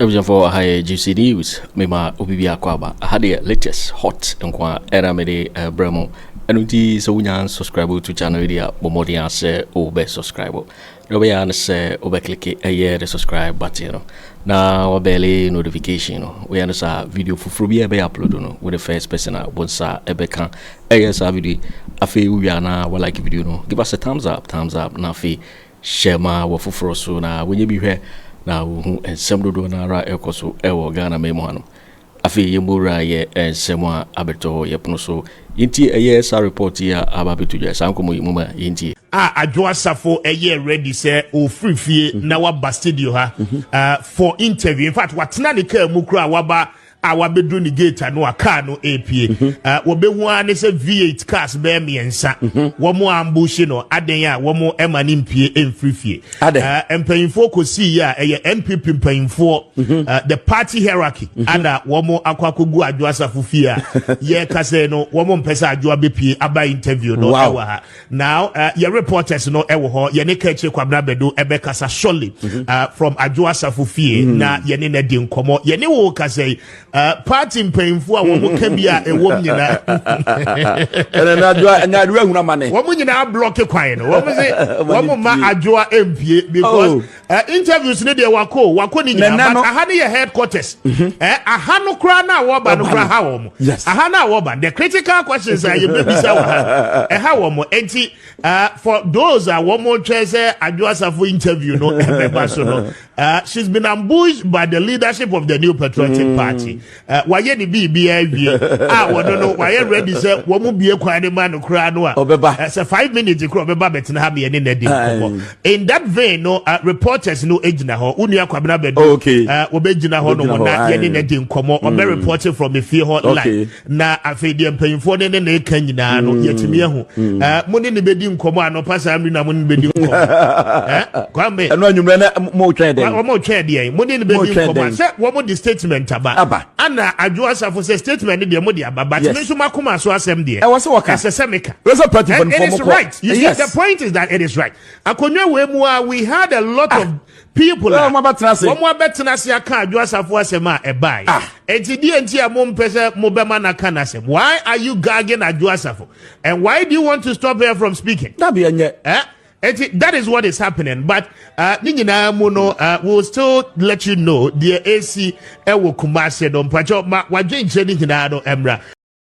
abusuafoɔ aha yɛ juicy news mema obi bi akɔ aba aha deɛ latest hot nko a ɛna mede ɛbrɛ eh, mu ɛno nti sɛ wonya subscribe to channel yi deɛ bɔ mmɔden asɛ wobɛ subscribe Wobɛyɛ ara ne sɛ wobɛklike ɛyɛ the subscribe button no na wabɛle notification no. Woyɛ no saa a, video foforɔ biara ɛbɛyɛ upload no, wo ne first person a wo nsa ɛbɛka ɛyɛ saa video yi. Afei wowie a na walike video no, give us a thumbs up, thumbs up, na afei share ma w'afoforɔ so na wɔnyɛ bi hwɛ na wɔhu nsɛm dodoɔ no ara a ɛrekɔ so ɛwɔ Ghanaman mu hanom. Afei yɛn mu wura yɛ nsɛm a abɛtɔ hɔ yɛ pono so nti ɛyɛ saa report yi a aba abɛto dwa saa nkɔmmɔ yi mo ma yɛn tie. A Adwo Asafo yɛ ready sɛ ɔfiri fie na waba studio ha for interview. In fact, watena ne car mu koraa waba a wabɛduru ne gate ano a car no repie. Wɔbɛhu ara ne sɛ V8 cars bɛyɛ mmiɛnsa wɔn ambushi no, adɛn a wɔn ɛma no mpie mfiri fie. Uh, mpanyinfoɔ kɔsii yɛ a ɛyɛ npp mpanyinfoɔ mhm. uh, the party hierarchy mhm. ana wɔn akɔ akɔgu adwo asafo fie a yɛka sɛ no wɔn mpɛ sɛ adwo abɛpie aba interview no ɛwɔ ha now uh, yɛ reporters no ɛwɔ hɔ yɛne kɛkyire kwabena bɛdo ɛbɛkasa surely mhm. from adwo asafo fie na yɛne no adi nkɔmmɔ yɛne wo kasa yi Uh, party mpanyinfo a wɔn ka bi a ɛwɔm nyinaa. ɛnna na adwoa na adwoa ehun ama ne. wɔn nyinaa blɔki kwan no wɔn se wɔn ma adwoa mpie because oh. uh, interviews ne deɛ wako wako ne nyinaa but aha ne yɛ headquarters ɛɛ mhm. eh, aha no kura na wɔba no kura ha wɔn aha na wɔba the critical questions a yɛ bɛ bisa wɔ ha ɛha wɔn eti for those a wɔn twɛ sɛ adwoa safo interview no ɛbɛba so no Uh, she's been ambushed by the leadership of the New Patriotic mm. Party. Uh, wayɛ ne biribiara awie a wɔno no wayɛ ready sɛ wɔn mu bie kwan ne ma no koraa no a ɔbɛba uh, sɛ five minutes kora ɔbɛba bɛtena ha mmiɛne na di nkɔmɔ in that vein no uh, reporters no gyina hɔ wo nua kwabena bɛdu oh, okay. uh, wɔbɛgyina hɔ nom na yɛne na di nkɔmɔ ɔbɛ mm. reporting from efie hɔ okay. live na afei deɛ mpanyinfoɔ ne ne na eka nyinaa no mm. yɛtumi ahu mm. eh, mo ne ne bɛdi nkɔmɔ anɔpa saa mmiri na mo ne ne bɛdi nkɔmɔ eh, kwame ɛnu anwummerɛ na mo twɛn dɛn wɔn twɛn deɛ mo ne ne bɛdi nkɔmɔ sɛ wɔn de statement aba aba ana adwo asafo sɛ statement deɛ mo de aba but mi nso ma koma so asɛm deɛ ɛwɔ sɛ wɔka ɛsɛ sɛ mi ka ɛsɛ party fan fɔm kɔ it is right you see the point is that it is right akonnwa wo emu a we had a lot of People a, wɔabɛtena ase aka Adwo Asafo asɛm a ɛbae. Ah. Enti deɛ nti a mompɛ sɛ mobɛma no aka n'asɛm. Why are you gagging Adwo Asafo? And why do you want to stop her from speaking? Dabi ɛnyɛ. Eh? Eti, that is what is happening. But uh, ne nyinaa mu no, uh, we'll still let you know deɛ esi ɛwɔ kumase no mpakyɛw ma wadwenkyerɛ ne nyinaa no ɛmra.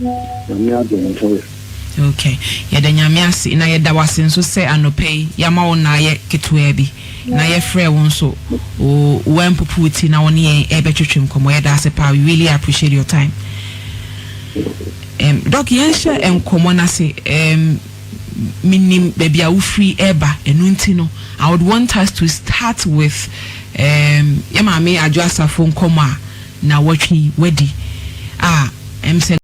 Nyame adom nti. Ok, yɛda Nyame ase na yɛda wo ase nso sɛ anɔpa yi yɛama wo naayɛ ketewaa bi na yɛfrɛɛ wo nso o woampupu wo ti na wo ne yɛn ɛrebɛtwetwe nkɔmmɔ. Yɛda ase paa, we really appreciate your time. Ɛm, Dɔk, yɛnhyɛ nkɔmmɔ no ase. Ɛm, menim baabi a wofiri reba, ɛno nti no, I would want us to start with ɛm, yɛn maame Adwo Asafo nkɔmmɔ a naawɔtwe yi wadi a ɛm sɛ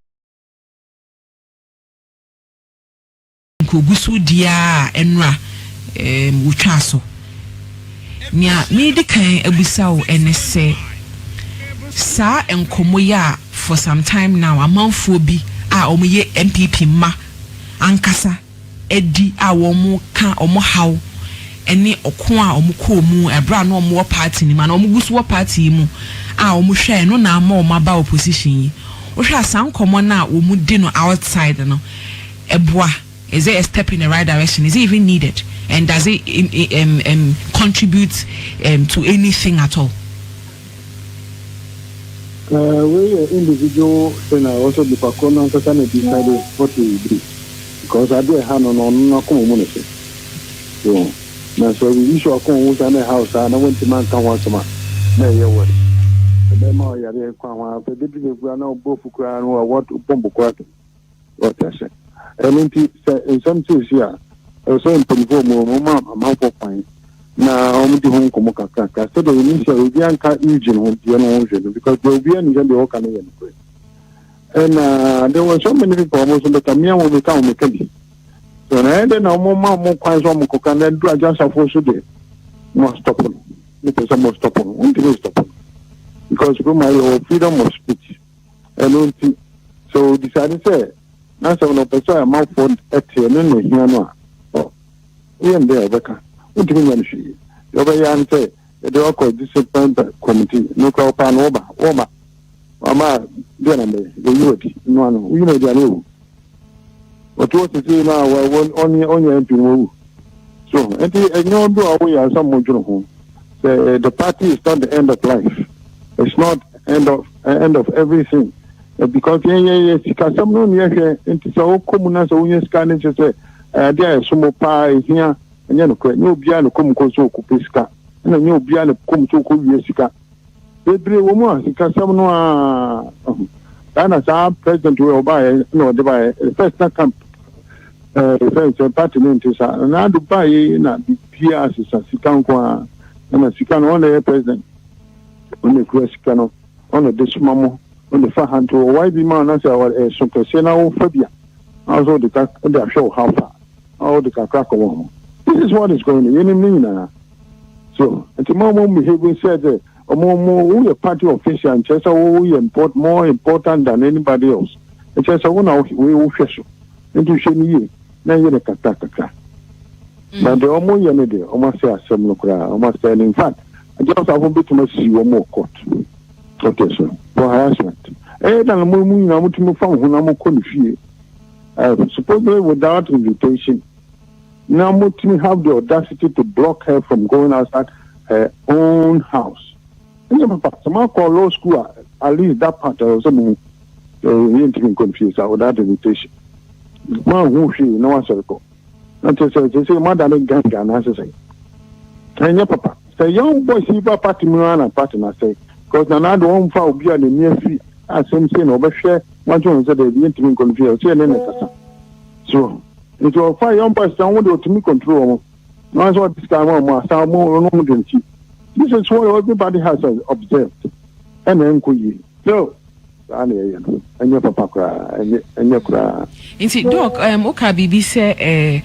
nkoguso di ara a ɛnora ɛm wotwaa so nea meedi kan abisa wo ɛne sɛ saa nkɔmɔ yi a for some time now amanfoɔ bi a wɔyɛ NPP mma ankasa adi a wɔka wɔn haw ne ɔko a wɔkɔɔ mu bere a na wɔwɔ party no mu anaa wɔgu so wɔ party yi mu a wɔhwɛe no na ama wɔaba opposition yi. Wohwɛ a saa nkɔmmɔ no a wɔdi no outside no, ɛboa? Is it a step in the right direction? Is it even needed? And does it contribute to anything at all? Uh, wei yɛ individual thing a ɛwɔ sɛ nipa koro no ankasa na bisa de what he will do because ade a ɛha no no ɔno no akoma mu ne sɛ wɔn na sɛ obi so akoma mu saa na ɛha wo saa na wɔntumi anka ho asɛm a na ɛyɛ wɔ ɛbɛma ɔyare kwan ho a bɛduru bɛkura na ɔbɔfu koraa no a wɔbɔmbo koraa Wate ase? Ɛno nti, sɛ nsɛm seesei a, ɛwɔ sɛ mpanyinfoɔ mu wɔma amanfoɔ kwan na wɔdi ho nkɔmmɔ kakrakra sɛdeɛ yɛnim sɛ obiara nka Eugene ho deɛ no ho hwɛ no because deɛ obiara nim sɛ deɛ wɔka no yɛ nokorɛ. Ɛna there were so many people wɔn nso bɛka mmea wɔn meka wɔn meka bi. So na ɛyɛ dɛ na wɔma wɔn kwan sɛ wɔn kɔka na duru agyasafoɔ so deɛ mo stop no. Mo pɛ sɛ mo stop no, wɔntumi stop no because Roma yɛ wɔ freedom of speech. Ɛno nti, sɛ ɔdisade sɛ n'asɛm no ɔpɛ sɛ amanfoɔ te ɛno na ɛhia no a, woyɛ no dɛn a ɔbɛka? Wontumi nyɛ no hwee. Deɛ ɔbɛyɛ ara ne sɛ yɛde wakɔ discipline committee no kora wɔpaa no wɔba wɔma wɔama deɛ na mɛ yɛyi wadi no ano woyi no adi a na wawu. wɔto sesei no a ɔnyɛ MP no wawu so nti ɛnyɛ ɔdo a woyɛ ansa mo dwene ho sɛ eh, the party is not the end of life it's not end of eh, end of everything eh, because yɛyɛ sikasɛm no ne yɛhwɛ nti sɛ wokɔ mu na sɛ wonya sika no kyɛ sɛ ade a ɛso mo paa ɛhia ɛnyɛ nokorɛ nyɛ obiara ne kɔm kɔ so ɔkɔpɛ sika ɛna nyɛ obiara ne kɔm so ɔkɔwie sika Bebree wɔ mu a sikasɛm no aa ho. Saa na saa president wei ɔbaeɛ na ɔde baeɛ. The first na camp ɛɛ eh, fɛn sɛ party no nte saa. Na n'ado baeɛ na biribiara asesa sika nko ara. Ɛna sika no ɔna ɛyɛ president. Ɔna ekura sika no. Ɔna ɛde soma mo. Ɔna efa ha nti wɔ YB ma na sɛ ɛso kɛseɛ na wofa bi a. Na ɔsɛ ɔde ka ɔde ahwɛ wo how far. a ɔde kakra kɔma wɔn. This is what is going on, yɛnim ne nyinaa. So, nti mo a mo behaving sɛ sɛ ɔmo ɔmo woyɛ party official nkyerɛ sɛ wo yɛ import more important than anybody else. Ɛkyerɛ sɛ wo na wei wo hwɛ so. Nti hwɛ no yie na yɛ no kakra kakra. Na deɛ ɔmo yɛ no deɛ ɔmo asɛ asɛm no koraa ɔmo asɛ no in fact agya ɔsafo betumi asi wɔn wɔ court. Okay so for harassment. Ɛyɛ dan mo emu nyinaa mo tumi fa mo ho na mo kɔ ne fie. Ɛ supposedly without invitation na motumi have the audacity to block her from going outside her own house. Ɛnyɛ papa, sɛ moakɔ law school a, at least that part ɛwɔ sɛ mohu. Ɛ yɛntumi nkɔ mfie saa without invitation. Moanhu hwee na wasɔre kɔ. na kyerɛ sɛ sɛ sɛ moada ne ganga anaasɛ sɛ ɛnyɛ papa sɛ young boys yi ba party mu ara na party na sɛ because na naado ɔmfa obi a n'ani afi asɛm sei na ɔbɛhwɛ wagye wɔn sɛ daabi yɛntumi nkɔ no fie ɔsɛ ne ne kasa so nti ɔfa young boys na wɔn de ɔtumi control wɔn na wɔn nso ɔde sika wɔn wɔn asa wɔn wɔn wɔn dɛm ti this is what everybody has observed ɛna ɛnkɔ yie. No, saa na yɛyɛ no. Ɛnyɛ papa koraa, ɛnyɛ ɛnyɛ koraa. Nti doc, um, woka biribi sɛ eh,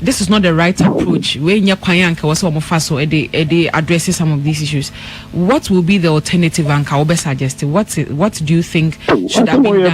this is not the right approach. Wei nyɛ kwan anka wɔ sɛ wɔn fa so ɛde ɛde address some of these issues. What will be the alternative anka wɔbɛ suggest? What what do you think should have been done?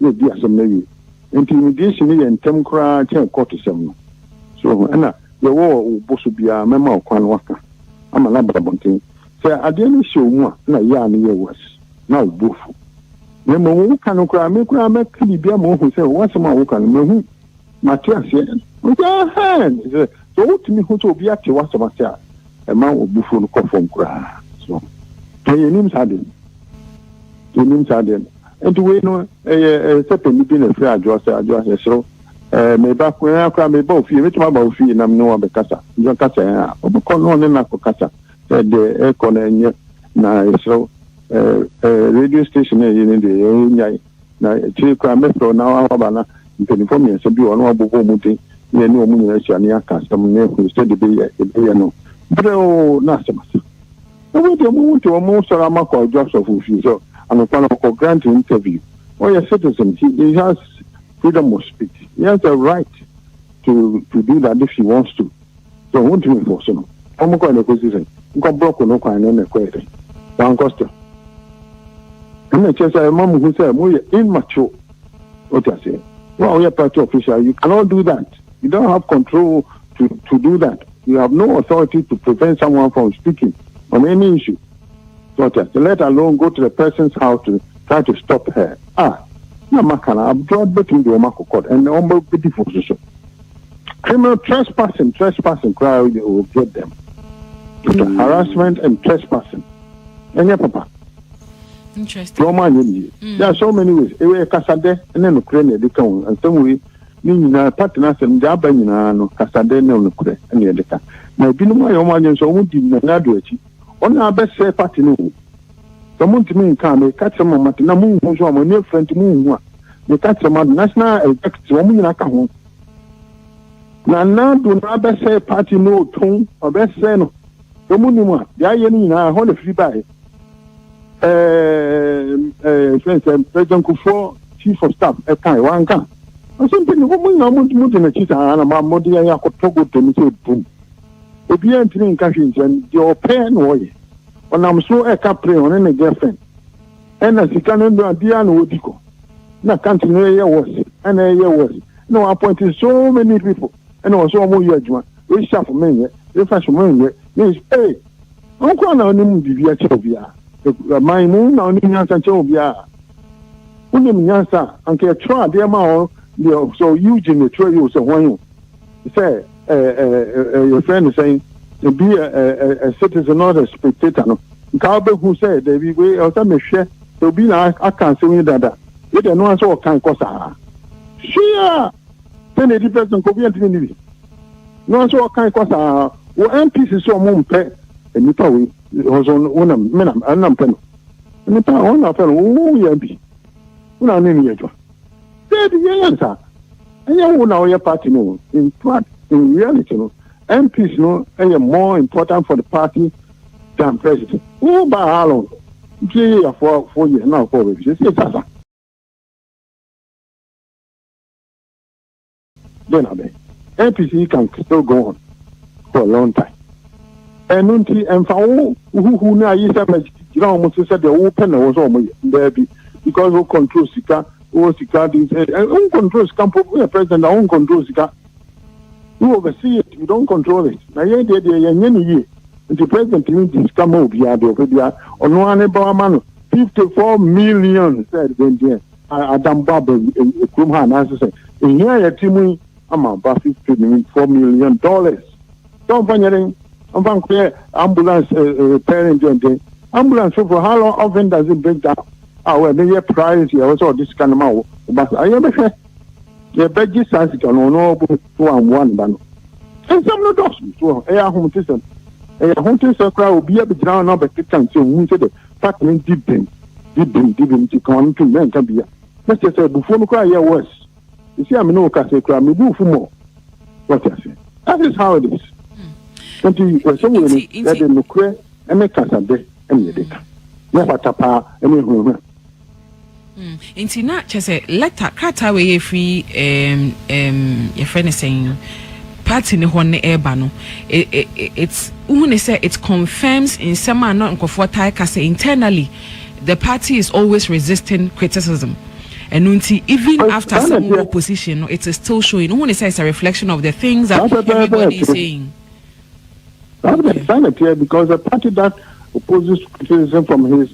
na edi asɛm no awie. Enti immigration no yɛ ntɛm koraa kyɛn kɔɔtosɛm no. So wohu? Ɛna deɛ ɛwɔ wo bo so biara, mɛma wo kwan na woaka ama no aba abɔnten. Sɛ adeɛ no hyɛ wo mu a, ɛna yea no yɛ worse, na wo bo afu. Na mmom woka no koraa, me koraa mɛka biribi ama woahu sɛ w'asɛm a woka no, mahu. Mate aseɛ. Ɔsɛ ahan te sɛ sɛ wotumi ho sɛ obi ate w'asɛm ase a ɛma obufuo no kɔ fam koraa so na yɛnim saa deɛ yɛnim saa deɛ no nti wei no ɛyɛ ɛyɛ sɛ panyin bi na ɛfiri adwoa sɛ adwoa yɛsoro ɛɛ meba koraa koraa meba ofie metumi aba ofie na mene wɔn abɛkasa nti ɔkasa yɛn a ɔbɛkɔ na ɔne no akɔ kasa sɛ deɛ ɛkɔ na ɛnyɛ na yɛsoro ɛɛ radio station na ɛyɛ ne deɛ yɛn nyae Na akyire yi koraa mɛfrɛ wo na woaba, na mpanimfoɔ mmiɛnsa bi wɔ hɔ na wɔabobɔ wɔn din, na yɛne wɔn nyinaa ahyia na yɛaka asɛm na yɛahunu sɛdeɛ ɛbɛyɛ ɛbɛyɛ no brɛoo na asɛm asa. Na wei deɛ mohu nti wɔsɔre ama kɔ adwo asɔfo fie sɛ anɔpa no ɔkɔ grant interview. Ɔyɛ citizen nti he has freedom of speech, he has a right to to do that if he wants to. So wontumi mforo so no? Wɔn kɔe na ɛkɔsi sɛn? Nkɔ brɔko no kwan no na ɛkɔyɛ dɛn? Wankɔ still. Ɛna ɛkyerɛ sɛ ɛma mo hu sɛ mo yɛ immature. Wote aseɛ? Wo a woyɛ party official, you cannot do that. You don't have control to to do that. You have no authority to prevent someone from speaking on any issue. Wote aseɛ? Let alone go to the person's house to try to stop her. Ah, na maka no abdoa bɛtumi de wɔn akɔ court and wɔn bɛdi fo so so. criminal trespassing trespassing koraa o yɛ o get them but mm. harassment and trespassing ɛnyɛ papa interesting wɔn anyɛ ne yie mm. there are so many ways ɛwɔ ɛkasadɛ ɛne nokorɛ na ɛde ka wɔn nsɛm wei ne nyinaa pati na asɛm gya aba nyinaa no kasadɛ ne nokorɛ ɛne ɛde ka na ebinom ayɛ wɔn anyɛ nso wɔn di nana do akyi wɔn na abɛsɛ pati no o. Sɛ montumi nka a, meka kyerɛ mo a moate, na monhu nso a, mo ani afura nti monhu a, meka kyerɛ mo a, National Executive, wɔn nyinaa ka ho. Nana Addo no abɛsɛe party no otɔn, ɔbɛsɛe no. Sɛ monim a, deɛ ayɛ no nyinaa, ɛhɔ na ɛfiri baeɛ. Ɛɛ, sɛ sɛ President Kufuor Chief of Staff ɛkae, wanka. Ɔsɛ mpɛ ne wɔn nyinaa modi n'akyi saa na ma mode yɛn akɔtɔ gote no sɛ bum. Obiara ntumi nka hwee nkyerɛ no, deɛ ɔpɛ na ɔyɛ. Ɔnam so ka pere ɔne ne girlfriend ɛna sika no ndoa biaa na wɔdi kɔ na country no ɛyɛ worse ɛna ɛyɛ worse ɛna wɔ appoint so many people ɛna wɔn so wɔn yɛ adwuma wei sharp menyɛ wei fashion menyɛ wei ee wɔn kora na ɔnim biribi akyɛ obiaa ɛman mu na ɔnim nyansa kyɛ obiaa wonim nyansa anka ɛtwerɛ adeɛ ma ɔ deɛ sɛ ɔyi gyina ɛtwerɛ yi o sɛ wɔn yi o sɛ yɛfrɛ no sɛn ebi a citizen not a spectator no nka wobɛhu sɛ dabi wei ɛwɔ sɛ mehwɛ sɛ obi na aka asɛm yi dada wei deɛ ɛno ara sɛ ɔkan kɔ saa hwee a sɛ na ɛdi pɛ so nka obi antumi ne bi no ara sɛ ɔkan kɔ saa wɔ mpc sɛ ɔmo mpɛ nnipa wei ɔso wonam menam ɛnam pɛ no nnipa a wɔn na afɛ no woyɛ bi wona ne ne yɛ adwuma Dabi yɛnyɛ no saa. Ɛnyɛ wo na woyɛ party no o. In fact, in reality no, MPs no yɛ more important for the party than president. Wo ba how long? Nti yɛ for four years na wokɔ wɔ baabi. Sɛ sɛ sasa. Then na bɛ APC can still go on for a long time. Ɛno nti ɛmfa wo huhu no ayi sɛ mɛgyina wɔn so sɛ deɛ wopɛ na ɛwɔ sɛ wɔn yɛ daabi because wo control sika wo sika de eh, eh, wo control sika mpo woyɛ president a wo control sika you oversee it you don't control it na yɛn deɛ deɛ yɛnyɛ no yie nti president mi di sika ma obiara deɛ ɔpɛ biara ɔno ara ne ba ama no fifty four million sɛ ɛdeɛ deɛ. Adam bɔ aba wɔ kurom ha anaasɛ sɛ ehia a yɛte mu yi ama aba fifty ne four million dollars sɛ ɔmfa nyɛ den ɔmfa nkɔyɛ ambulance eh, eh, repairing den den ambulance foforɔ how long often does it break down a ah, wɔ ɛno yɛ priority ɛwɔ sɛ ɔde sika no ma wo ɔba saa yɛbɛhwɛ yɛbɛgye saa sika no ɔno ɔbɔ so wammoa ne ba no nsɛm no dɔso so ɛyɛ ahomtesɛm ɛyɛ ahomtesɛm koraa obi abɛgyina hɔ na ɔbɛkeka nsɛm hu sɛ dɛ Fact no di bem, di bem, di bem nti ka w'ano tom na nka bia. Na kyerɛ sɛ abufuo no koraa yɛ worse. Sisi a me ne wo kasa yi koraa mebu wo fo more. Wate aseɛ? That is how it is. Nti wɔhyɛ wei no, yɛde nokorɛ ne kasabɛ na yɛde ka. Nyɛ pata paa ne ahunahuna. Hmm, nti na kyɛ sɛ lɛta krataa wei yɛ firi um, um, yɛfrɛ no sɛn party ne hɔ ne ɛreba no it's wohu ne sɛ it confirms nsɛm a na nkurɔfoɔ tae ka sɛ internally the party is always resisting criticism ɛno nti even after sɛ mowɔ position no it is still showing wohu ne sɛ it's a reflection of the things that everybody is saying That's the sanity because the party that opposes criticism from his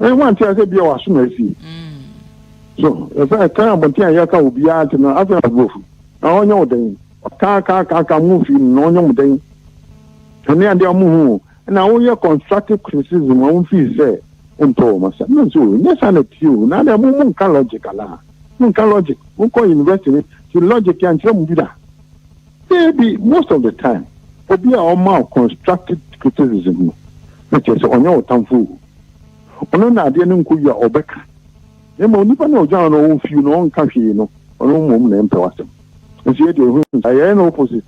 ɛyɛ wɔn ante ase bia waso na asi so ɛsɛ ɛka abɔnten a yɛka obiara nti no afei aborɔfo na ɔnyɛ wo dɛn kaakaakaaka mo mfii no na ɔnyɛ mo dɛn ɛne adeɛ ɔmo hu na woyɛ constructive criticism ɔmo mfii sɛ ntɔ ɔmo asɛm na nso nyɛ saa na tie o na adeɛ mo mo nka logic anaa mo nka logic mo kɔ university ti logic yɛnkyerɛ mo bi da Dabi, most of the time obi a ɔma wo constructive criticism no, na kyerɛ sɛ ɔnyɛ wo tamfo o. Ɔno na adeɛ no nkɔ yie a ɔbɛka. Na mmom nipa no a ɔgyina hɔ no ɔwɔ few na ɔnka hwee no, ɔno mmom na ɛmpɛ w'asɛm. Nso yɛ deɛ ɛho nti a yɛyɛ no opposite.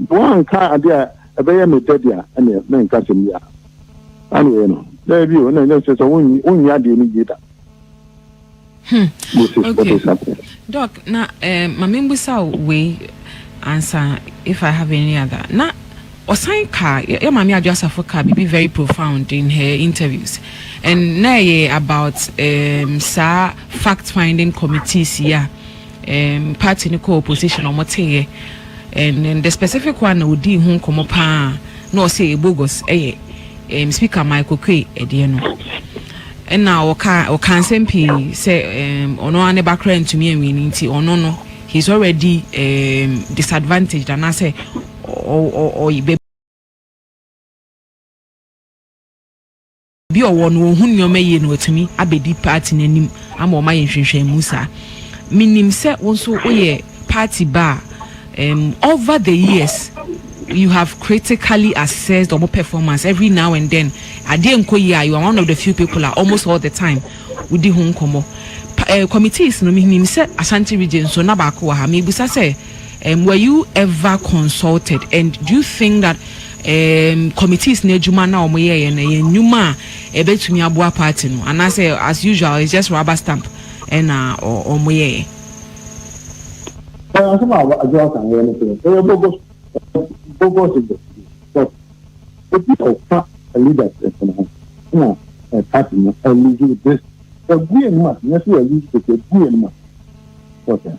Woanka adeɛ a ɛbɛyɛ me dɛ de a, ɛneɛ mɛnka asɛm biara. Saa na yɛyɛ no. Dabi o, ɛna ɛnyɛ kyerɛ sɛ wonyɛ adeɛ no yie da. Hmm. Okay. Doc, na eh, ma membusa wei ansa if I have any other. Na ɔsan ka yɛ maame adwo asafo ka biribi very profound in her interviews and na ɛyɛ about um, saa fact finding committees yi a um, party no kɔɔ opposition ɔmo teeɛ and then the specific one na odii ho nkɔmɔ paa na ɔsɛ ebogus ɛyɛ um, speaker Michael Kwe ɛdeɛ no ɛna ɔka ɔka nsɛm pii sɛ um, ɔno ara ne ba koraa ntumi anwi ne nti ɔno no he is already um, disadvantaged anaasɛ ɔyɛ Obi a ɔwɔ no ɔhu nneɛma yie no watumi abɛdi party no anim ama wɔn ayɛ nhwehwɛmu saa. Menim sɛ wo nso woyɛ party ba a um, over the years you have critically assessed wɔn performance every now and then adeɛ nkɔ yie a you are one of the few people a almost all the time wodi ho nkɔmmɔ. Pa, eh, committees no menim sɛ Ashanti region so na baako wɔ ha. Mebusa sɛ Um, were you ever consulted? And do you think that um, committees na adwuma na wɔn yɛyɛ na yɛ nnwuma a ɛbɛtumi aboa party no anaasɛ as usual it's just rubber stamp ɛna wɔn yɛyɛ. Asɛm a adwoa kan yɛ no sɛ ɛyɛ bogus bogus investigation but ebi ɔfa leaders ɛfɛn ho ɛna ɛparty no ɛluzu this ɛgu yɛn mu a nyɛ so ɛluzu this ɛgu yɛn mu a wɔsɛ.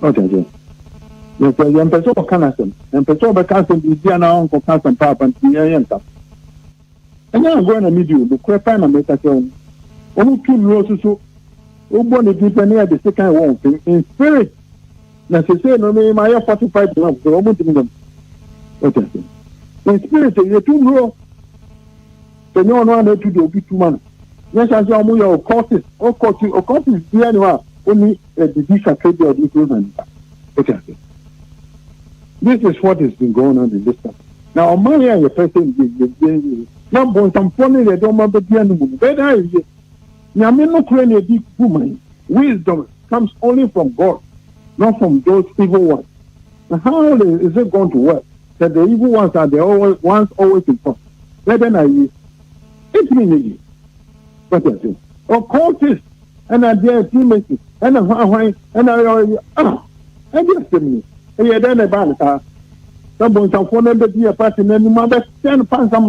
Wate aseɛ? Na sɛ yɛmpɛ sɛ ɔka n'asɛm, yɛmpɛ sɛ ɔbɛka asɛm biribi anaa ɔnkɔka asɛm paapa nti yɛn yɛnka so. Ɛnyɛ agorɔ na medi o, nokorɛ paa na meka kyerɛ wo no. Wɔtu nnuro soso, wobɔ ne din pɛ na yɛde sekan wɔ wɔn fam, in spirit. Na seesei no me mayɛ fortified enough sɛ wɔntumi nyɛ me. Wate aseɛ? In spirit o, yɛtu nnuro. Sɛ nyɛ ɔno a na ɛtu deɛ obi tu ma no. Nyɛ saa nso a wɔyɛ occultist, occultist, occultist biara ni hɔ a ɔni sɛ bibi sakra bi a ɔde hia ma nipa wate ase this is what is been going on in this country na ɔman yɛ a yɛpɛ sɛ yie yie yie yie na bɔnsamfoɔ no yɛde ɔma bɛdua no mu no bɛyɛ dɛ ayɛ yie nyame no korɛ na ɛdi gu man wisdom comes only from God not from those evil ones and how is it going to work that the evil ones are the always, ones always in front bɛyɛ dɛ na ayɛ yie ɛtumi nyɛ yie wate ase ɔkɔɔ test ɛna deɛ ɛsi mesi ɛna hwanhwan ɛna ɔyɛ ah ɛde asɛm ni ɛyɛ dɛn na ɛbaa no saa sɛ bɔnsamfoɔ no bɛdi yɛ pati no anim abɛhyɛ no pansam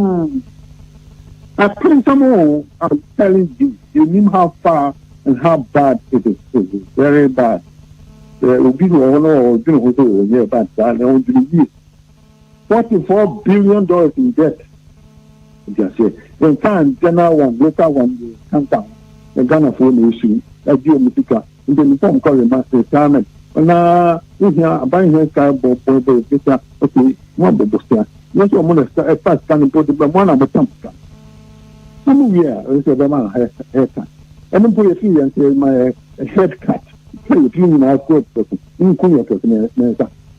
apansam o i'm telling you you nim how far and how bad it is it is very bad obi wɔ hɔ no ɔdwene ho sɛ ɔnyɛ bad saa na ɔdwene yie Forty four billion dollars in debt nti aseɛ nka ankyɛ na wɔn local wɔn de kanka ho na ghanafoɔ na esu agye wɔn sika mpanyinfoɔ nkɔ rema retirement na wohia aban hia sika bɔ bɔ bɔ sika okay mo abɔ bɔ sika nyɛ sɛ wɔn na sika ɛfa sika no mpo de bɛ mo ana mo tam sika na mo wie a ɛsɛ sɛ bɛma hair cut ɛno mpo yɛ fi yɛn sɛ ma yɛ head cut sɛ yɛ fi nyinaa kɔ kɔ so nko yɛ kɛse na nsa.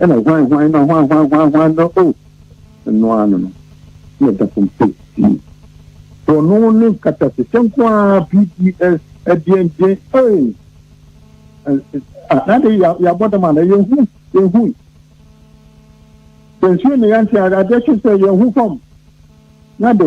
ɛna hwan hwan na hwan hwan hwan hwan no o ɛno ara no no na ɛda fam sei sii bɔno ne nkatasehyɛ nko ara pds ɛdeɛndeɛn ee ade yɛabɔ dam ana yɛhu yɛhu yɛnsuo ne yɛnte adeɛ kye sɛ yɛhu fam na de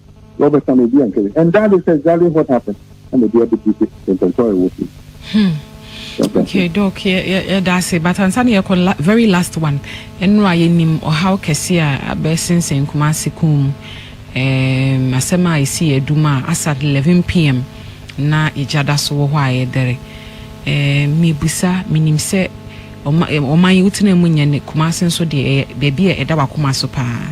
Robert Sam Ebi Ankere and that is exactly what happened ɛna ebi abɛdi sɛ ntɔntɔn ɛwɔ so. Hmm. Okay, Doc, yɛda ase. But ansa na yɛkɔ very last one, ɛno a yɛnim ɔhaw kɛse a abɛsensɛn Kumasi kun mu. Um, asɛm a ɛsi yɛ adum a asa 11 pm na egya da so wɔ hɔ a yɛdɛre. Um, mebusa, menim sɛ ɔman yi wotena mu nyɛ ne Kumasi nso deɛ ɛyɛ baabi a ɛda wakoma so paa.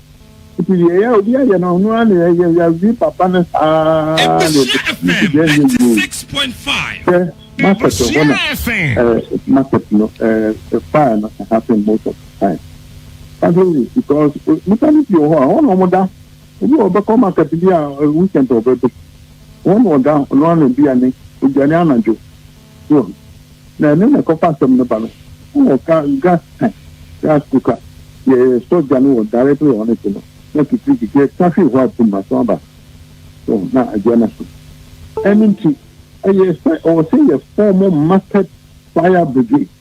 Nti deɛ ɛyɛ obi ayɛ no ɔno ara na ɛyɛ yɛwi papa no saa na ɛbɛsi deɛ ɛnyɛ yie sɛ market hɔ na market no fire no happen most of the time ade because nipa no bi wɔ hɔ a wɔn na wɔda ebi wɔ bɛkɔ market bi a weekend ɔbɛbɛ wɔn na ɔda ɔno ara na bi a ne odwane anadwo. Hiob. Na ɛno na ɛkɔfa asɛm no ba no, na wɔka Gaska, Gas Kuka, yɛ sɔgya no wɔ Dare bere a ɔne te no, na Kikiri Kikiri ta hwe hua tum aso aba so na agye na so. Ɛno nti, ɛyɛ sɛ ɔwɔ sɛ yɛfɔɔmo Market Fire Brigade.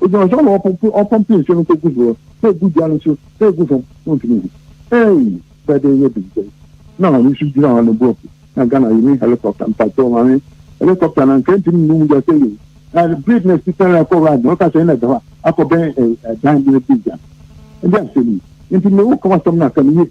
Ogyina hɔ saa na ɔpompe ɔpompe nsuo no kɔgu soɔ sɛ egu dua no so sɛ egu fam wontumi nhu. Eii bɛdɛn yɛ dum sɛi na maame nso gyina hɔ ne bo afu na Ghana yɛnni helicopter mpakyɛw maame helicopter no anka ntumi nnu mogya sɛi oo na bere bi na si tɛn akɔ ride na ɔka sɛ ɛna ɛda hɔ a akɔbɛn ɛdan bi na di gya ɛde asɛm yi nti me wo ka w'asɛm no aka no yie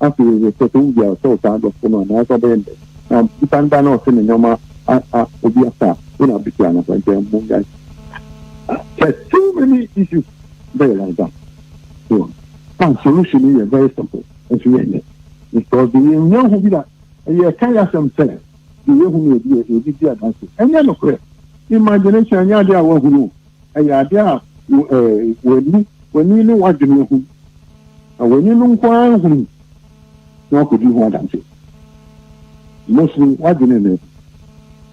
Afei hwɛ, sɛ ɔtɔ wo bi a, ɔsɛ ɔtaa adɔfo no anaa ɔsɛ ɔbɛyɛ ndɛ. Na nipa no ba na ɔsɛ ne nneɛma a a obi asa a, wo na abɛtua ano asa nti ɛmmo yae. Hwɛ so many issues bɛyɛ like that. So a solution no yɛ very simple nso yɛ nyɛ because deɛ yɛn nyɛ hu bi da ɛyɛ ka yɛ asɛm sɛ deɛ yɛ hu no yɛ bi yɛ bi di adanse ɛnyɛ nokorɛ imagination ɛnyɛ adeɛ a wɔahunu. Ɛyɛ ade a w'ani w'ani ne w'adwene ahu, na w'ani no nko ara hunu na wakɔdi ho adanse. Mosmi, w'adwene nnɛ.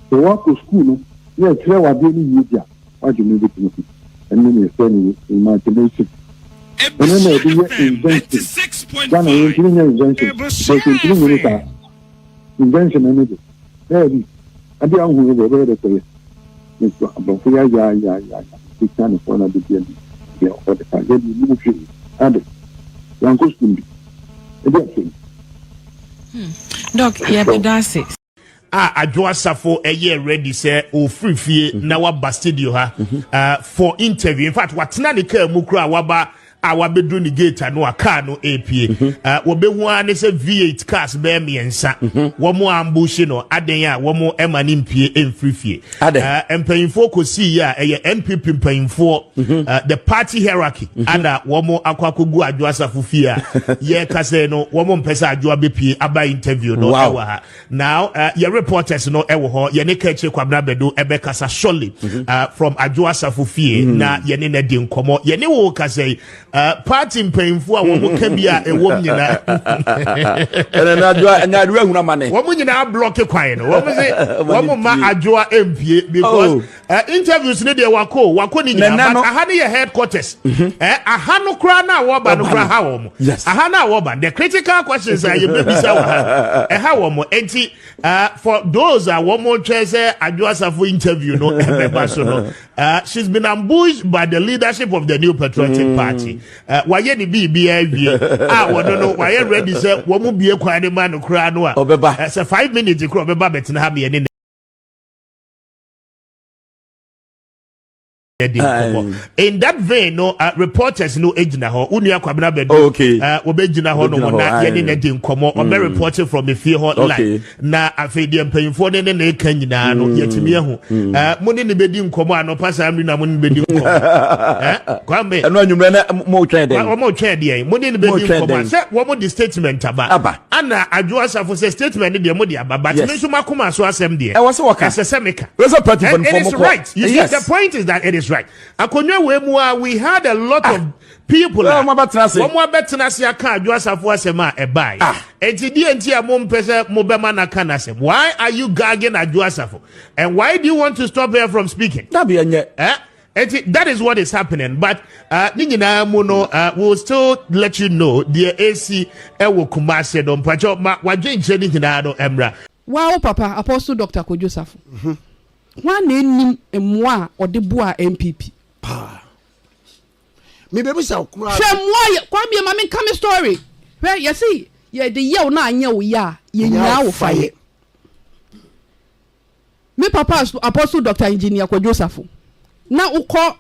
Sɛ woakɔ sukuu no na yɛkyerɛ w'adeɛ no yie bi a, w'adwene bɛtumi ho. Ɛno na yɛfrɛ no imagination. Ɛno na yɛde yɛ invention. Ghana yɛntumi nyɛ invention, because yɛntumi nyini saa. Invention no de, daabi. Ade a wohu no de, ɛbɛyɛ dɛ sɛ ɛyɛ nso aborɔfo yayaayayaaya betwa ne kɔn abedi anim deɛ ɔwɔ de ka. Yɛde yɛnnim hwee. Ade, yɛankɔ sukuu bi. Ɛde asɛm. Hmm. Doc, yɛde da ase. a Adwo Asafo yɛɛ ready sɛ ɔfiri fie na waba studio ha uh, for interview. In fact, watena ne kaa mu koraa waba a wabedu ne gate ano a car no epie mhm. ah, wɔbɛhu ara ne sɛ v8 cars bɛyɛ mmiɛnsa mhm. wɔn ambushi no adan a wɔn ɛma ne mpie mfiri fie ah, mpanyinfoɔ kɔsii yi a ɛyɛ npp mpanyinfoɔ mhm. ah, the party hierarchy ana wɔn akɔ akɔgu adwo asafo fie a yɛkasa no wɔn mpɛ sɛ adwo abɛpie aba interview no ɛwɔ ha Now uh, your reporters no ɛwɔ eh, hɔ yɛne kɛkyire kwabena bɛdo ɛbɛkasa eh, surely mm -hmm. uh, from adwo asafo fie mm -hmm. na yɛne na di nkɔmɔ yɛne wo kasa yi uh, party mpanyinfo a wɔn ka bi a ɛwɔ mu nyinaa wɔn nyinaa blɔki kwan no wɔn sɛ wɔn ma adwoa mpie because. Oh. Uh, interviews ne deɛ wako wako ne nyinaa but aha ne yɛ headquarters mm -hmm. eh, aha no koraa na wɔba no koraa ha wɔn yes. aha na wɔba the critical questions a yɛbɛbisa wɔ ha ɛha wɔn enti uh, for those a wɔn twɛ sɛ adwo asafo interview no ɛbɛba so no uh, she's been ambushed by the leadership of the new patriotic mm. party uh, wɔayɛ ne biribi awie a wɔn no wɔayɛ ready sɛ wɔn mu bie kwan ne ma no koraa no a ɔbɛba sɛ five minutes koraa ɔbɛba bɛtena ha mmienu yɛde nkɔmɔ in that vein no uh, reporters no gyina hɔ wo nua kwabena bɛdu oh, okay. uh, wɔbɛgyina hɔ nom na yɛne no de nkɔmɔ ɔbɛ mm. reporting from efie hɔ okay. live na afei deɛ mpanyimfoɔ ne ne ne ka nyinaa no mm. yɛtumi ahu mm. uh, mo ne ne bɛdi nkɔmɔ a nɔpa saa mmiri na mo ne bɛdi nkɔmɔ eh? kwame ɛno anwummerɛ na motwɛn dɛn wɔmotwɛn deɛ mo ne ne bɛdi nkɔmɔ a sɛ wɔmode statement aba Ana Adwo Asafo sɛ statement no deɛ mo de aba but yes. me nso m'akoma so asɛm deɛ ɛwɔ sɛ wɔka ɛsɛ sɛ meka ɛsɛ party fan fɔ mo kɔ right you yes. see the point is that it is right akonnwa wei mu a we had a lot ah. of people a wɔn abɛtena ase aka Adwo Asafo asɛm a ɛbae ah. eti deɛ nti a mo mpɛ sɛ mo bɛma n'aka n'asɛm why are you gagging Adwo Asafo and why do you want to stop her from speaking? dabi ɛnyɛ. Eh? Enti that is what is happening but uh, ne nyinaa mu no uh, we will still let you know deɛ ɛsi ɛwɔ Kumase no mpakyɛ ma wadwenkyerɛ ne nyinaa no ɛmmra. Waa wo papa Apostle Doctor Kojo Safo mhm. hwan na ɛnim mmoa a ɔde boa NPP? Paa. Mebɛbisa wo koraa. Hwɛ mmoa yɛ kwamie ma menka me story hwɛ yɛse yɛde yɛw na anyɛ wo yɛ a yɛnyaa wo fa yɛ. Me papa Apostle Doctor Engineer Kwadwo Osafo, na wo kɔ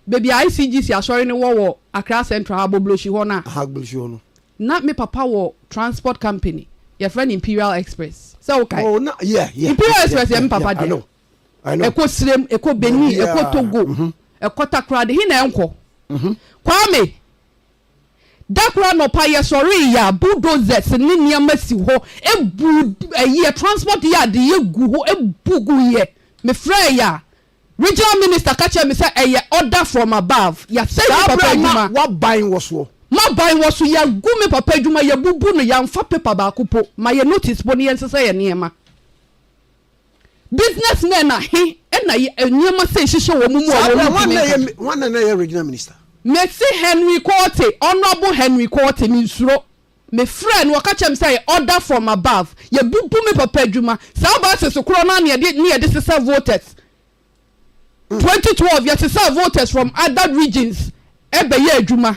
baabi a ICGC asɔre no wɔ wɔ Accra Central ha, Agbogbloshie hɔ no a. Aha, Agbogbloshie hɔ no. Na me papa wɔ transport company, yɛfrɛ no Imperial Express, sɛ wo kae. Oh, na, yeah, yeah. Imperial Express yɛ me papa dea. Yeah, yeah, yeah, I know, I know. Ɛkɔ Sirem, ɛkɔ Benin, ɛkɔ Togo, ɛkɔ Takoradi, he na ɛnkɔ? Kwame, Da koro anɔpa yɛsɔree yɛ a bulldozers ne nneɛma si hɔ bu ɛyɛ transport yard yɛ gu hɔ bu gu yɛ me frɛɛ yɛ a regional minister ka kyerɛ me sɛ ɛyɛ order from above yɛasɛe me papa adwuma. Saa bere a na w'aban wɔ soɔ. M'aban wɔ so yɛagu me papa adwuma yɛabubu no yɛanfa paper baako po ma yɛ notice po ne yɛnsesa yɛ nneɛma. Businessmen ahe na nneɛma sei hyehyɛ wɔn mu a wɔn ntumi nka bi? Saa bere no, hwan na na ɛyɛ regional minister? Mese Henry Quartey, Honourable Henry Quartey, mensuro. Mefrɛɛ no, ɔka kyerɛɛ me sɛ ɛyɛ order from above. Yɛbubu me papa adwuma. Saa buses korɔ no ara na yɛde na yɛde sesa voters. Twenty twelve yɛsesaa voters from other regions bɛyɛɛ adwuma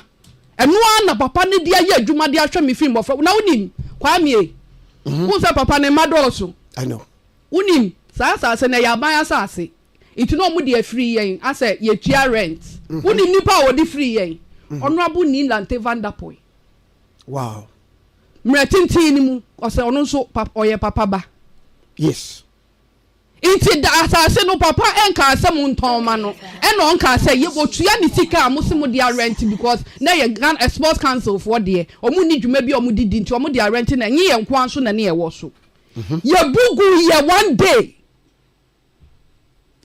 ɛno ara na papa no de ayɛ adwuma de ahwɛ me fi mmɔfra na wonim Kwame mhm. wohu sɛ papa ne mma dɔɔso wonim saa asase no ɛyɛ aban asase nti na ɔmo de afiri yɛn asɛ yɛtua rent mhm. wonim nipa a wɔde firi yɛn mhm. honorable Nilante Vanderpoy wow mmerɛ tenten no mu ɔsɛ ɔno nso ɔyɛ papa ba yes Nti da asase no papa nkaa sɛ mo ntɔn mma no ɛna ɔnkaa sɛ yɛ ɔtua ne sika a mo se mo de arɛnte because na ɛyɛ Ghana sports council foɔ deɛ ɔmo nni dwuma bi a ɔmo de di nti ɔmo de arɛnte na ɛnye yɛn nkoa nso na ne ɛwɔ so yɛ bu gu yɛ one day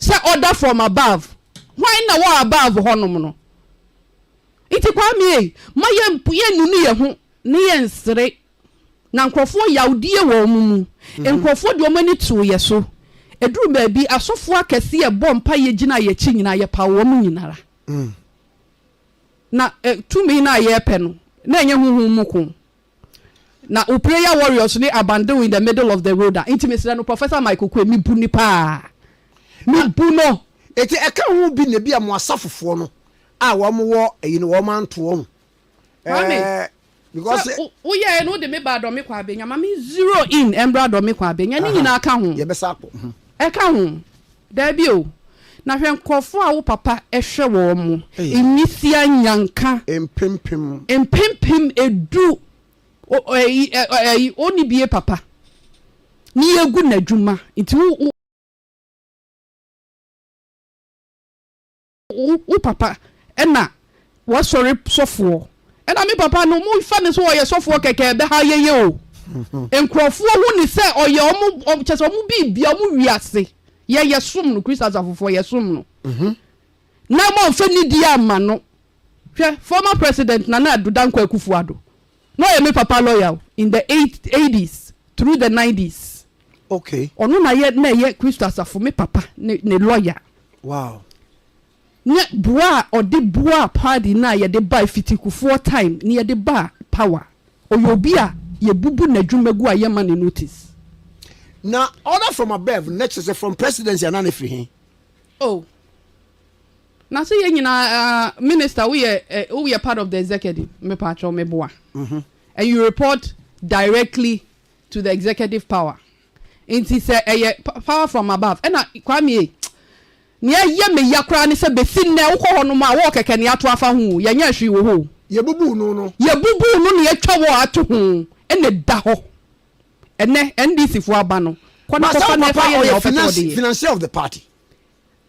sɛ order from above hwan na wɔ above hɔ nom no nti Kwame ei ma yɛ nunu yɛ ho ne yɛ nsere Na nkurɔfoɔ yawdie wɔ wɔn mu. Nkurɔfoɔ de wɔn ani too yɛ so. Ɛduruu baabi, asɔfoɔ akɛseɛ bɔɔ mpaeɛ gyinaa yɛn akyi nyinaa, yɛpaw wɔn nyina ara. Na tumi no a yɛrepɛ no, na ɛnyɛ honhom mu ko. Na wo prayer warriors ne abandon in the middle of the road a, nti mesrɛ no, Professor Mike Oquaye, mebu no paa. Mebu no. Nti ɛka ho bi na ebia mo asafofoɔ no a wɔn wɔ ayi no wɔn anto wɔn. Kwame, eh, because sɛ woyɛɛ no wode me baa dɔme kɔ abɛnya ma me zero in ɛmbra dɔme kɔ abɛnya ne nyinaa ka ho yɛbɛsa akɔ mhm. ɛka ho daabi o na hwɛ nkurɔfoɔ a wo papa ɛhwɛ wɔ mo nwisia nyanka mpempem mpempem edu ɔni bie papa ne yɛgu n'adwuma nti wo Wo wo papa ɛna wasɔre sɔfoɔ ɛna me papa no mo fa ne sɛ ɔyɛ sɔfoɔ kɛkɛ ɛbɛha yɛyɛ o nkurɔfoɔ hu ne sɛ ɔyɛ ɔmo ɔmo kyɛ sɛ ɔmo biribia ɔmo wiase yɛ yɛ som no Christ asafofoɔ yɛ som no na mo anfa nidie amma no hwɛ former president Nana Addo Dankwa Akufo-Addo Na ɔyɛ me papa lɔya o, in the eighties through the nineties. Okay. Ɔno na yɛ na ɛyɛ Kristo Asafo me papa ne ne lɔya. Wow. Ne boa a ɔde boa party no a yɛde ba Fitikufoɔ time ne yɛde ba power. Ɔyɛ obi a yɛbubu n'adwuma gu a yɛmma ne notice. Na order from above na kyerɛ sɛ from presidency anaa na ɛfiri he? Oh. Na so yɛn nyinaa minister wo yɛ wo yɛ part of the executive me pa atwɔ me boa and you report directly to the executive power nti sɛ ɛyɛ power from above ɛna kwame e ni ɛyɛ me ya koraa ne sɛ besi nnɛ wokɔ hɔ nom a wɔ kɛkɛ ne ato afa ho yɛ nyɛ hwee wɔ hɔ yɛ bubu no no yɛ bubu no ne atwa wɔ ato ho ɛna da hɔ ɛnɛ ndc fo aba no kɔ na kɔ fa na ɛfa yɛ na ɔpɛ sɛ ɔde yɛ financier of the party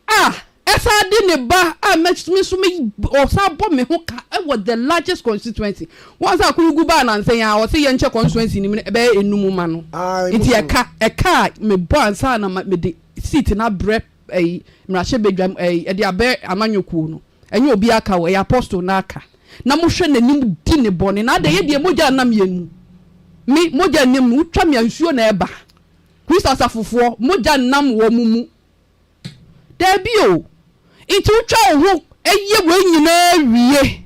A ɛsan de ne ba a me nso me ɔsan bɔ me ho ka wɔ the largest constituency. Once a Akunugu baa nansa yi ara ɔse yɛnkyɛ constituency no mu no bɛyɛ enum mma no. Nti ɛka ɛka a mebɔ ansa na mede seat no abrɛ ɛyi mmarahyɛbadwam ɛyi ɛde abɛ amanyɔ kuo no ɛnyɛ obi aka o ɛyɛ apostle no aka na mohwɛ n'anim di ne bɔne na adɛn ɛdeɛ mogya nam yɛn mu me mogya nim mu wotwa me a nsuo na ɛba Christ asafofoɔ mogya nam wɔn mu Dabi o, nti wotwa wo ho yɛ wei nyinaa wie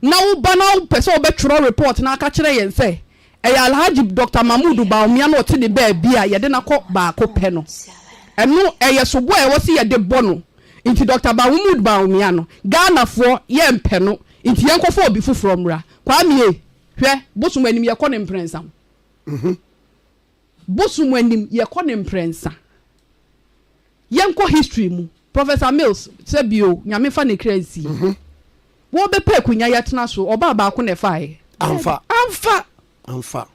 na woba na wopɛ sɛ wobɛtwerɛ report na aka kyerɛ yɛn sɛ ɛyɛ Alhaji Doctor Mahmood Bawumia na ɔte ne baabi a yɛde no akɔ baako pɛ no. Ɛno ɛyɛ sobo a ɛwɔ sɛ yɛde bɔ no. Nti Doctor Mahmood Bawumia no, Ghanafoɔ yɛmpɛ no, nti yɛnkɔfa obi foforɔ mmra. Kwame e, hwɛ, bosom anim yɛkɔ no mprɛnsa ho. Bosom anim yɛkɔ no mprɛnsa. Yɛnkɔ history mu. Professor Mills, sɛ bi o, Nyame nfa ne kra nsi. Wɔbɛpɛ akunya yɛtena so, ɔbaa baako na ɛfaeɛ? Amfa. Amfa. Amfa.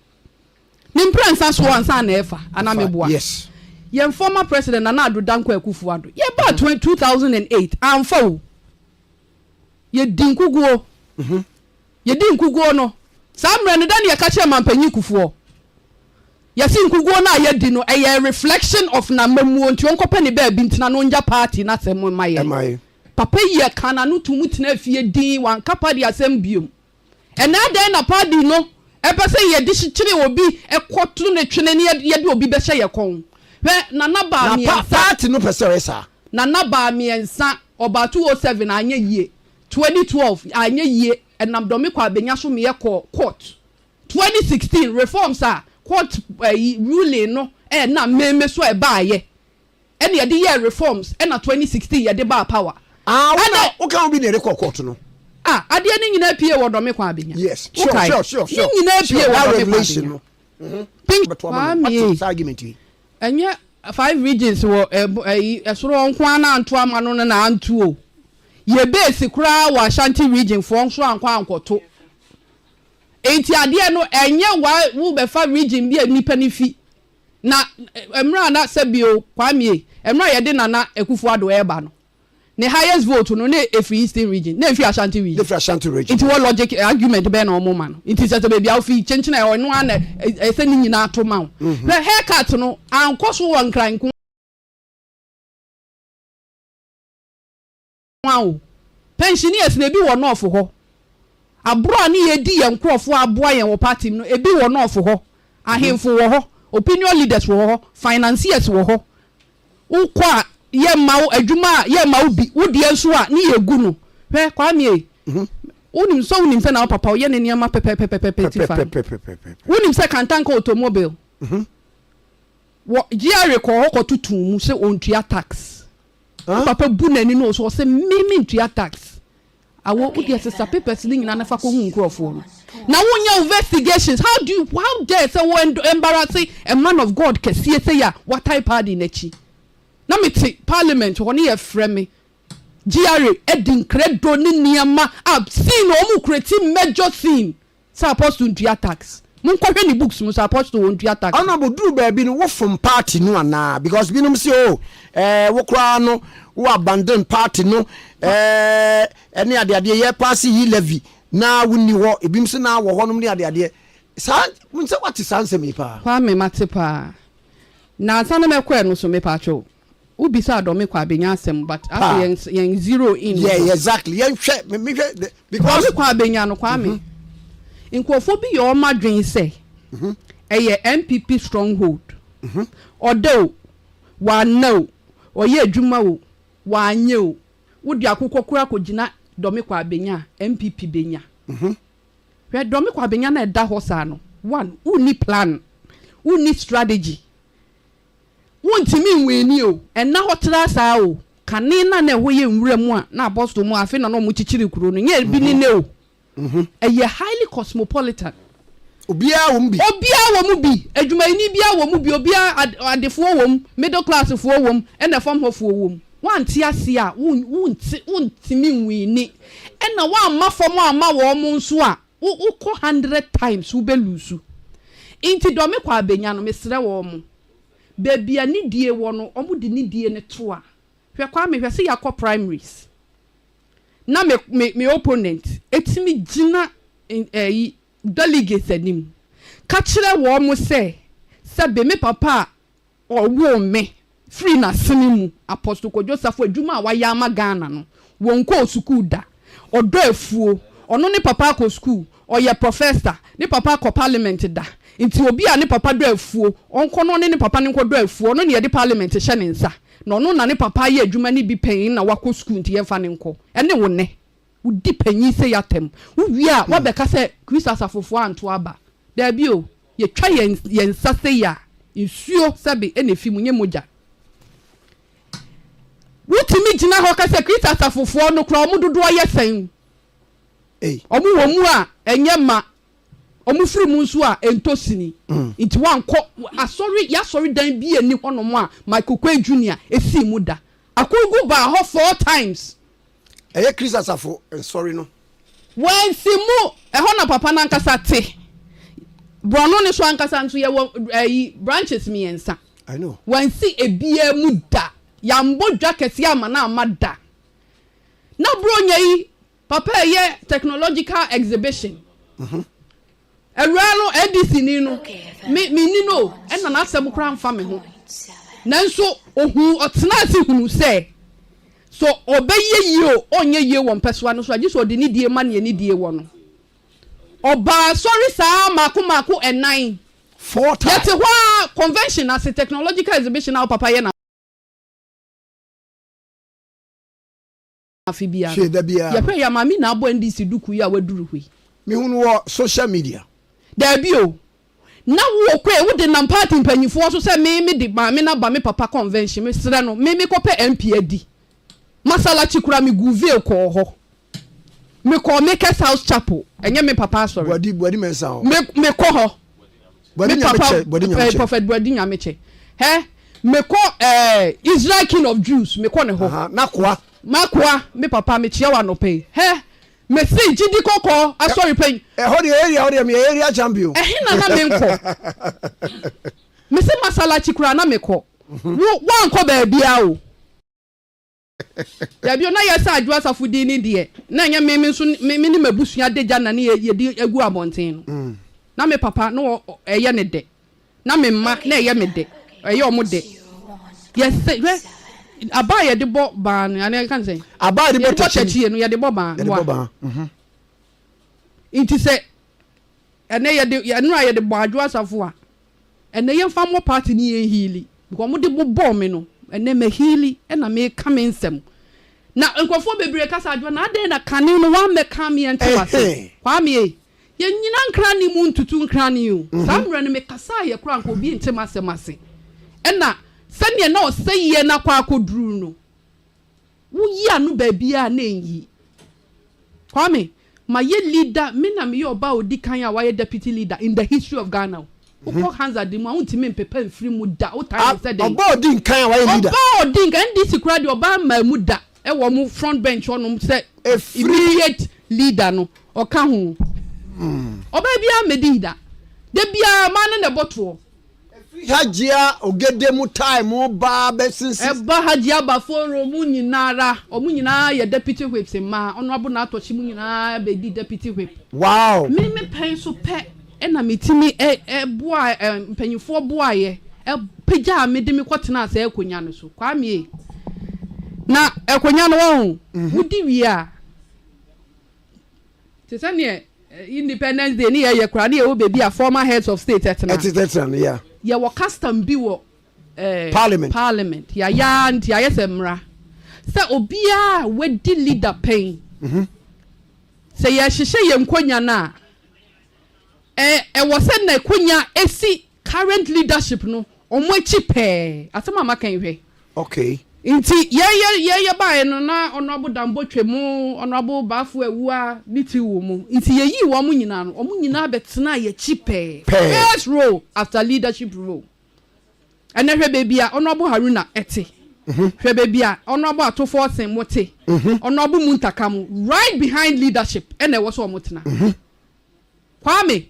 Ne mprɛnsa soɔ ansa na ɛfa, anaa meboa? Yes. Yɛn former president Nana Addo Dankwa Akufo-Addo, yɛbaa 2008, amfa o. Yɛdi nkuguo. Yɛdi nkuguo no, saa mmerɛ no dɛn na yɛka kyerɛ manpanyin kufoɔ? Yɛse nkuguo no a yɛadi no ɛyɛ reflection of n'amammuo nti ɔnkɔpɛ ne baabi ntena na ɔngya party no asɛm mma yɛn. Papa yi ɛkaa n'ano toom tenaa fie dinn, wanka party asɛm biom. Ɛnɛ adɛn na party no ɛpɛ sɛ yɛde kyekyere obi kɔ to no twene na yɛde obi bɛhyɛ yɛn kɔn? Hwɛ Nana baa mmiɛnsa. Na party no pɛ sɛ ɔyɛ saa. Nana baa mmiɛnsa, ɔbaa 207 anyɛ yie. Twenty twelve, anyɛ yie, ɛnam dɔme kɔ a bɛnya so meɛ kɔɔ court. Twenty sixteen, reforms a court ayi ruling no ɛnam meme so ɛbaayɛ, ɛna yɛde yɛɛ reforms, ɛna twenty sixteen yɛde baa power. Ah, wo na, wo ka obi na yɛde kɔɔ court no. Ah, adeɛ no nyinaa pie wɔ dɔme kɔ a bɛnya. Yes, sure, sure, sure, sure. Ne nyinaa pie wɔ dɔme kɔ a bɛnya. Kwame, Ɛnyɛ five regions wɔ ɛyi ɛsoro hɔ nko ara na anto ama no no na anto o. Yɛ base koraa wɔ Ashanti region foɔ nso ankɔ ankɔto. Enti adeɛ no ɛnyɛ wa wo bɛfa region bi a nnipa no fi. Na ɛmmerɛ a na sɛbio Kwamie ɛmmerɛ a yɛde Nana Akufo Addo ɛɛba no. ne highest vote no na efiri eastern region na efiri ashanti region. na efiri ashanti region. nti wɔ logic eh, argument bɛn na wɔn ma no nti sɛ sɛ beebi a wofi kyenkyen a ɔno ara na ɛsɛ ne nyinaa ato ma wo mhm. hwɛ haircut no ankɔ so wɔ nkran nko awo pensioners na ebi wɔ nɔɔfo hɔ aburo a ne yɛ di yɛn nkorɔfoɔ aboa yɛn wɔ party mu no ebi wɔ nɔɔfo hɔ mhm. ahemfo wɔ hɔ opinion leaders wɔ hɔ financiers wɔ hɔ. Wokɔ a yɛmma wo adwuma a yɛmma wo bi, wo deɛ nso a ne yɛgu no. Hwɛ Kwame ei, wonim sɛ wonim sɛ na wo papa ɔyɛ ne nneɛma pɛpɛpɛpɛpɛ ti fa no. pɛpɛpɛpɛpɛpɛpɛ. Wonim sɛ Kantanka Automobile wɔ GRA kɔɔ hɔ kɔto too mu sɛ ɔntua tax. Wo Hã? papa bu n'ani na ɔso ɔse me mentua tax. Awɔ wo deɛ sesa papers no nyinaa na fa kɔhu nkurɔfoɔ no na wonyɛ wo investigations how do you how dare sɛ wo embarrasse a man of God kɛseɛ sei a watae paadi n'akyi na mete parliament hɔ ne yɛfrɛ me GRA adi nkrɛdo ne nneɛma a scene a wɔkura ti major scene Sɛ apostle ntua tax. Monkɔ hwɛ ne books mu sɛ apostle ontua tax. Ɛna bɔduru baabi no wo fom party no anaa because binom se oh eh wo koraa no wo abandon party no eh ɛne adeadeɛ yɛ paase yi levy na wo nni hɔ ebinom se na wɔ hɔ nom ne adeadeɛ saa nsɛ wate saa nsɛm yi paa. Kwame mate paa. Na ansa na mɛkɔ ɛno so mepaakyɛw Wo bisa a dɔme kɔ a benya asɛm but afei yɛn yɛn zero in no. Yeah exactly yɛn hwɛ me me hwɛ the because. Dɔme kɔ a benya no kwame. Mm -hmm. Nkurɔfoɔ bi yɛ wɔn adwene sɛ mhm. ɛyɛ NPP stronghold. Mhm. Ɔda o, wanna o, ɔyɛ adwuma o, wanyɛ o, wode akokɔ koraa kɔgyina Dɔme Kwabenya a, NPP bɛnya. Mhm. Hwɛ Dɔme Kwabenya no a ɛda hɔ saa no, one, wonni plan, wonni strategy. Wontumi nweenee o, ɛnna hɔ tra saa o, kane no a na ɛhɔ yɛ nwura mu a na apostol mu a afei na na wɔkyekyere kurow no nyɛ bi ne nnɛ o. Ɛyɛ highly cosmopolitan. Obiara wɔ mu bi. Obiara wɔ mu bi. Adwumayɛni biara wɔ mu bi, obiara, adefoɔ wɔ mu, middle class foɔ wɔ mu, ɛnna fam hɔ foɔ wɔ mu. Woante aseɛ a, wonte, wontumi nweenee. Ɛnna woamma fam amma wɔn nso a, Wo wo kɔ hundred times wo bɛ lose nti dɔ me kɔ a bɛ nya no mesrɛ wɔ ɔmo baabi a ne die wɔ no ɔmo de ne die no to a hwɛ kwame hwɛ sɛ ya kɔ primaries na me me me opponent ɛtumi gyina ɛyi delegates anim ka kyerɛ wɔ ɔmo sɛ sɛ be me papa a Ɔwoo me firii n'asene mu. Apostle Kojo Safo adwuma a wayɛ ama Ghana no, wɔnkɔɔ sukuu da. Ɔdɔ afuo. Ɔno ne papa akɔ sukuu. Ɔyɛ professor. Ne papa kɔ parliament da. Nti obi a ne papa dɔ afuo, ɔnkɔ na ɔne ne papa no nkɔdɔ afuo. Ɔno na yɛde parliament hyɛ ne nsa. Na ɔno na ne papa ayɛ adwuma no bi pɛn na wakɔ sukuu nti yɛmfa no nkɔ. Ɛne wo nnɛ. Wodi panyin sei atɛm. Wowie a, woabɛka sɛ Kristo asafofo antow aba. Dabi o, yetwa yɛn yɛn nsa sei a, nsuo sɛbe na efi mu, nyɛ mogya. Wotumi gyina hɔ ka sɛ Kristo asafofoɔ no koraa, wɔn dodoɔ yɛ sɛn? Wɔn wɔ mu a, ɛnyɛ mma. Wɔfiri mu nso a, ɛntɔ sini. Nti woankɔ asɔre, y'asɔredan bi nni hɔnom a Michael Kwei Junior sii mu da. Akorgu baa hɔ four times Ɛyɛ Kristo asafo nsɔre no. Wɔansi mu. Ɛhɔ na Papa no ankasa te. Borɔno no so ankasa nso, yɛwɔ ayi, branches mmiɛnsa. I know. Wɔansi ebiara mu da. Yɛambɔ dwa kɛseɛ amma no amma da. Na Buronya yi, Papa ɛyɛ technological exhibition. Awuraa no NDCni no, me, menni no o, ɛnna n'asɛm koraa mfa me ho. Nanso ohuu, ɔtenaa ase hunuu sɛ, sɛ ɔbɛyɛ yie o, ɔrenyɛ yie wɔ mpɛsoa no so a, gye sɛ ɔde nidie ma nea nidie wɔ no. Ɔbaa asɔre saa mmaako mmaako nnan. Four times. Yɛte hɔ ara, convention ase, technological exhibition a wo papa yɛ na. afe biara. Hwee da biara no. Yɛhwɛe a, Maame na abɔ NDC dukuu yi a waduru hɔ yi. Mehu no wɔ social media. Daabi o. Na wowɔ kwan a wode nam party mpanyimfo hɔ so sɛ me me de Maame no aba me papa convention, mesrɛ no, me mekɔpɛ MP adi. Massalakyi koraa miguu veil kɔɔ hɔ. Mekɔɔ Makers House Chapel, ɛnyɛ me papa asɔre. Boadi, Boadi Mensah hɔ. Me, mekɔ hɔ. Me papa eh, Prophet Boadi Nyamekyɛ. Hɛ, mekɔ eh, Israel King of Jews, mekɔ ne hɔ. Aha, Nakoa. Makoa, me papa, mekyia wo anɔpa yi. Hɛ, mefiri gyidi kɔkɔɔ asɔre pɛn. Ɛhɔ deɛ area hɔ deɛ meyɛ area champion. Ɛhe na na menkɔ? Mese masalachi koraa na mekɔ. Wo woankɔ baabiara o. Dabi o, na yɛ sɛ Adwo Asafo din ni deɛ, na ɛnyɛ me me nso me ne m'abusua de gya na ne yɛ yɛdi agu abɔnten no. Na me papa na ɔ ɛyɛ ne dɛ, na me mma na ɛyɛ me dɛ, ɛyɛ wɔn dɛ. Yɛ sɛ, hwɛ, aba a yɛde bɔ baa no, anaa yɛka no sɛn? Aba a yɛde bɔ tɛkyie. Yɛde bɔ tɛkyie no, yɛde bɔ baa. Yɛde bɔ baa. Mhm. Nti sɛ ɛnɛ yɛde ɛnora yɛde bɔ Adwo Asafo a. Ɛnɛ yɛmfa mmɔ party ne yɛn heali because ɔmo de bobɔɔ me no ɛnɛ ma heali ɛna meka me nsɛm na nkorɔfoɔ bebree ka sɛ Adwoa na adɛn na kane no wammɛka me ɛnte wase Kwame ei yɛn nyina nkra ne mu ntutu nkra ne o saa mmerɛ no mekasaa yɛ koraa nka obi nte masɛm ase ɛna sɛdeɛ na ɔsɛeɛ no akɔ akɔduru no Wo yi ano baabiaa na ɛnyi. Kwame, mayɛ leader, me na meyɛ ɔbaa a ɔdi kan a wayɛ deputy leader in the history of Ghana o. Wokɔ Hansard mu a wontumi mpepa mfiri mu da, wotan no sɛ dɛn? Ɔbaa a ɔdi nkan a wayɛ leader. Ɔbaa a ɔdi nkan, NDC koraa deɛ ɔbaa mmaa mu da wɔ wɔn front bench hɔnom sɛ immediate leader no, ɔka ho. Ɔbaa biara mmɛdii da. Da biara mmaa no na ɛbɔ toɔ. Ɛfiri Hajia Ogede mu tae mu ba bɛsisi. Ɛba Hajia Baforo mu nyina ara. Wɔn nyina ara yɛ Deputy Whips mma. Honourable Naatɔkyi mu nyina ara bɛdi Deputy Whip. Wow! Me me pɛ nso pɛ na metumi boaa mpanyinfoɔ boaeɛ pagyaa me de me kɔ tenaa saa akonwa no so. Kwame ei! Na akonwa no wɔn ho, wodi wie a. Te sɛ neɛ Independence Day ne yɛyɛ koraa ne yɛwɔ baabi a former heads of state ɛtena. Ɛtete tena no, yeah. Yɛwɔ custom bi wɔ eh, Parliament. Parliament. Yɛayɛ ara nti ayɛ sɛ mmara. Sɛ obiara a wadi leader pɛn, sɛ yɛhyehyɛ yɛn nkonnwa no a, ɛwɔ sɛ nakonya si current leadership no ɔmo akyi pɛɛ asɛm a maka yi hwɛ. Okay. Nti yɛ yɛ yɛ yɛ baeɛ no na honourable Dambo twam honourable Bafo Awua ne ti wɔ mu nti yɛ yii wɔn nyinaa no wɔn nyinaa bɛ tenaa yɛ akyi pɛɛ first role after leadership role ɛnɛ hwɛ baabi a honourable Haruna ɛte hwɛ baabi a honourable Atofoɔ Sen mo te honourable Muntaka mo right behind leadership ɛna ɛwɔ sɛ wɔn tena Kwame,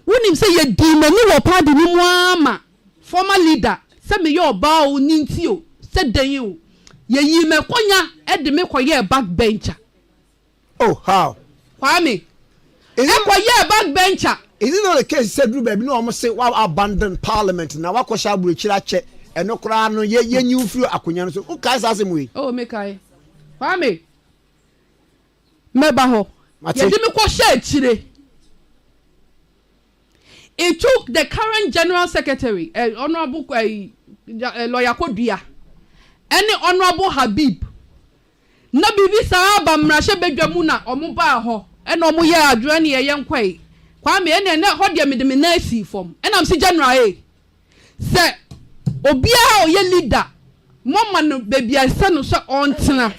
wonim sɛ yɛdii m'ani wɔ party no mu ara ma former leader sɛ meyɛ ɔbaa o ne nti o sɛ dɛn o, yɛyii me akonnwa de me kɔyɛɛ back bencher. Oh, how? Kwame, ɛkɔyɛɛ back bencher. Is it not the case sɛ duru baabi na wɔn se wa abandon parliament na wakɔhyɛ aburokyire akyɛ, ɛno koraa no yɛ yɛnyi wo firi akonnwa no so, wokae saa asɛm wei? Oh, mekae. Kwame, Mɛba hɔ. Mate. Yɛde me kɔhyɛ akyire. It took the current General Secretary, eh, Honourable eh, eh, Lawyer Kodua, ɛne Honourable Habib. Na biribi saa aba mmarahyɛ badwa mu na wɔn baa hɔ. Ɛna wɔn yɛ adwene ne yɛyɛ nkɔe. Kwame ɛna ɛna hɔ deɛ mede me nan sii fam. Ɛna msi General ee. Sɛ obiara a ɔyɛ leader mo ma no baabi a ɛsɛ no sɛ ɔntena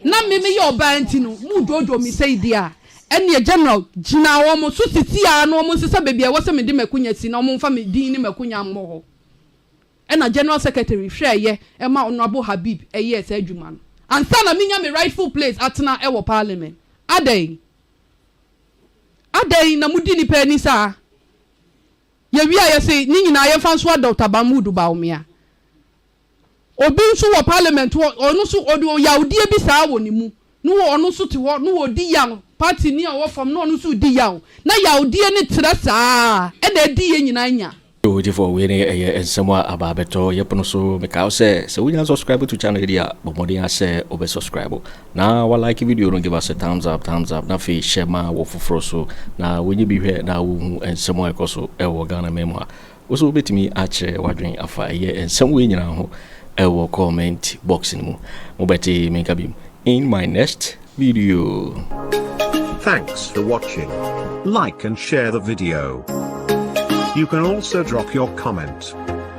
na me meyɛ ɔbaa nti no mo dwoodwoo me sɛi deɛ a, ɛnneɛ General, gyina wɔn so sisiaa na wɔn nsesa baabi a ɛwɔ sɛ mede m'akunya si na wɔn mfa me din ne m'akunya mmɔ hɔ. Ɛna General Secretary hwɛɛeɛ ɛma Honourable Habib ɛyɛɛ saa adwuma no ansa na menya me rightful place atena ɛwɔ Parliament. Adɛn? Adɛn na modi nnipa ani saa? Yɛwie a yɛse ne nyinaa yɛmfa nsoa Doctor Mahmood Bawumia. Obi nso wɔ parliament hɔ, ɔno nso ɔde ɔyawdeɛ bi saa wɔ ne mu, ne wɔ ɔno nso te hɔ ne ɔdi yaw, party ni a ɔwɔ fam ne ɔno nso redi yaw, na yawdeɛ no trɛ saa ɛna adi yɛn nyinaa nya. Yoo gyefo wei ne ɛyɛ nsɛm a aba abɛtɔ yɛpono so. Mekae wo sɛ, sɛ wonnya subscribe to channel yi deɛ a, bɔ mmɔden ara sɛ wobɛ subscribe. Na wa like video no give us a thumbs up thumbs up na afei share ma wɔ foforɔ so na wɔnyɛ bi hwɛ na wɔhu nsɛm a ɛkɔ so ɛwɔ Ghana man mu a wo so wobɛtumi akyerɛ wadwen afa ɛyɛ nsɛm wei nyinaa ho ɛwɔ comment box no mu mobɛte menka bim in my next video. Thanks for watching. Like and share the video. You can also drop your comment.